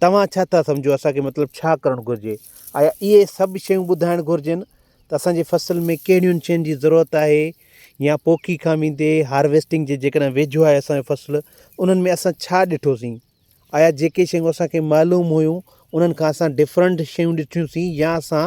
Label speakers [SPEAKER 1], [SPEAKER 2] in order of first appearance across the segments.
[SPEAKER 1] توهان ڇا ٿا سمجهو اسان کي مطلب ڇا ڪرڻ گهرجي؟ آيا اهي سڀ شيون ٻڌائڻ گهرجن ته اسان جي فصل ۾ ڪهڙين شين جي ضرورت آهي يا پوکي کان ويندي هارويسٽنگ جي جيڪڏهن ويجهو آهي اسان جو فصل انهن ۾ اسان ڇا ڏٺوسين؟ آيا جيڪي شيون اسان کي معلوم هيون انهن کان اسان ڊفرنٽ شيون ڏٺيون سين يا اسان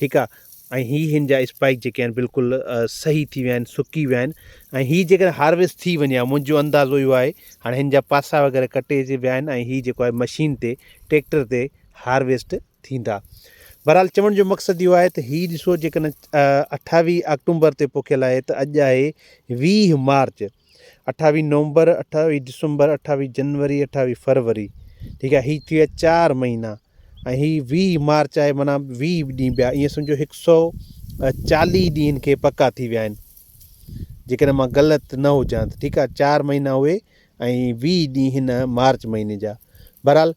[SPEAKER 1] ٺيڪ آ ۽ هي هن جا اسپائڪ جيڪي آهن بلڪل صحيح ٿي ويا آهن سڪي ويا آهن ۽ هي جيڪڏهن هارويسٽ ٿي وڃي ها منهنجو اندازو اهو آهي هاڻي هن جا پاسا وغيره ڪٽي جي ويا آهن ۽ هي جيڪو آهي مشين تي ٽيڪٽر تي هارويسٽ ٿيندا بهرحال چوڻ جو مقصد اهو آهي ته هي ڏسو جيڪڏهن اٺاويهه آڪٽومبر تي پوکيل آهي ته اڄ آهي ويهه مارچ اٺاويھ نومبر اٺاويھ ڊسمبر اٺاويھ جنوري اٺاويھ فروري ٺيڪ آھي ھي ٿي ويا چار مھينا ۽ ھي ويھ مارچ آھي معنيٰ ويھ ڏينھن ٻيا ائين سمجھو ھڪ سؤ چاليھ ڏينھن کي پڪا ٿي ويا آھن جيڪڏھن مان غلط نه ھجان ته ٺيڪ آھي چار مھينا اھي ۽ ويھ ڏينھن ھن مارچ مھيني جا بھرحال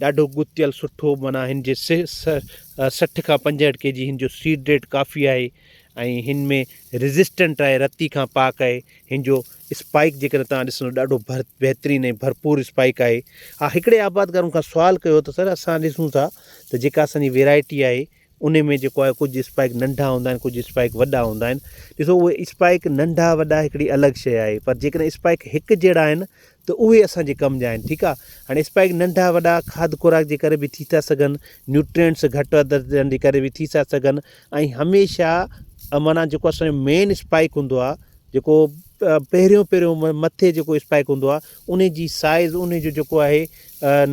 [SPEAKER 1] ڏاڍو ڳتيل سٺو معنيٰ هن جي سٺ کان پنجهٺ ڪي جي هن جو سيڊ ريٽ ڪافي آهي ۽ هن ۾ ريزسٽنٽ آهي رتي کان پاڪ آهي هن جو اسپائڪ جي ڪري تان ڏسنو ڏاڍو ڀر بهترين ۽ ڀرپور اسپائڪ آهي ها هڪڙي آبادگار مون کان سوال ڪيو ته سر اسان ڏسون ٿا ته جيڪا اسان جي ويرائٽي آهي انهي ۾ جيڪو آهي ڪجهه اسپائڪ ننڍا هوندا آهن ڪجهه اسپائڪ وڏا هوندا آهن ڏسو اهي اسپائڪ ننڍا وڏا هڪڙي الڳ شيء آهي پر جيڪڏهن اسپائڪ هڪ جهڙا آهن ته اهي اسان جي ڪم جا آهن ٺيڪ آهي هاڻي اسپائڪ ننڍا وڏا کاڌ خوراڪ جي ڪري به ٿي ٿا سگهن نيوٽرينٽس گهٽ وڌ ٿيڻ جي ڪري به ٿي ٿا سگهن ۽ هميشه معنيٰ جيڪو اسان جو مين اسپائڪ هوندو آهي جيڪو پهريون پهريون مٿي جيڪو اسپائڪ هوندو آهي انهي جي سائيز انهي جو جيڪو آهي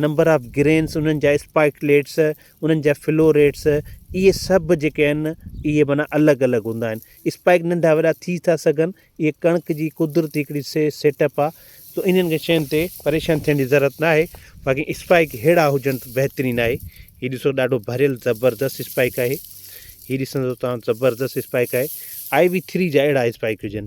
[SPEAKER 1] نمبر آف گرينس انهن جا اسپائڪ ليٽس انهن جا فلو ريٽس اهي سڀ جيڪي آهن اهي معنيٰ الڳ الڳ هوندا آهن اسپائڪ ننڍا وڏا ٿي ٿا سگهن اهي ڪڻڪ جي قدرتي هڪڙي سيٽ اپ آهي سو انهن کي شين تي پريشان ٿيڻ جي ضرورت ناهي باقي اسپائڪ ههڙا هجن ته بهترين آهي هي ڏسو ڏاڍو ڀريل زبردست اسپائڪ آهي هي ڏسندو توهان زبردست اسپائڪ آهي آئي وي ٿري جا اهڙا اسپائڪ هجن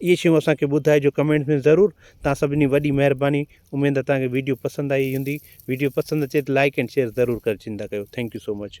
[SPEAKER 1] اهي شيون اسان کي ٻڌائجو ڪمينٽس ۾ ضرور توهان سڀني جي وڏي مهرباني اميد ته توهان کي ويڊيو پسند آئي هوندي ويڊيو پسند اچي ته لائيڪ اينڊ شيئر ضرور ڪري ڇڏيندا ڪيو ٿينڪ يو سو مچ.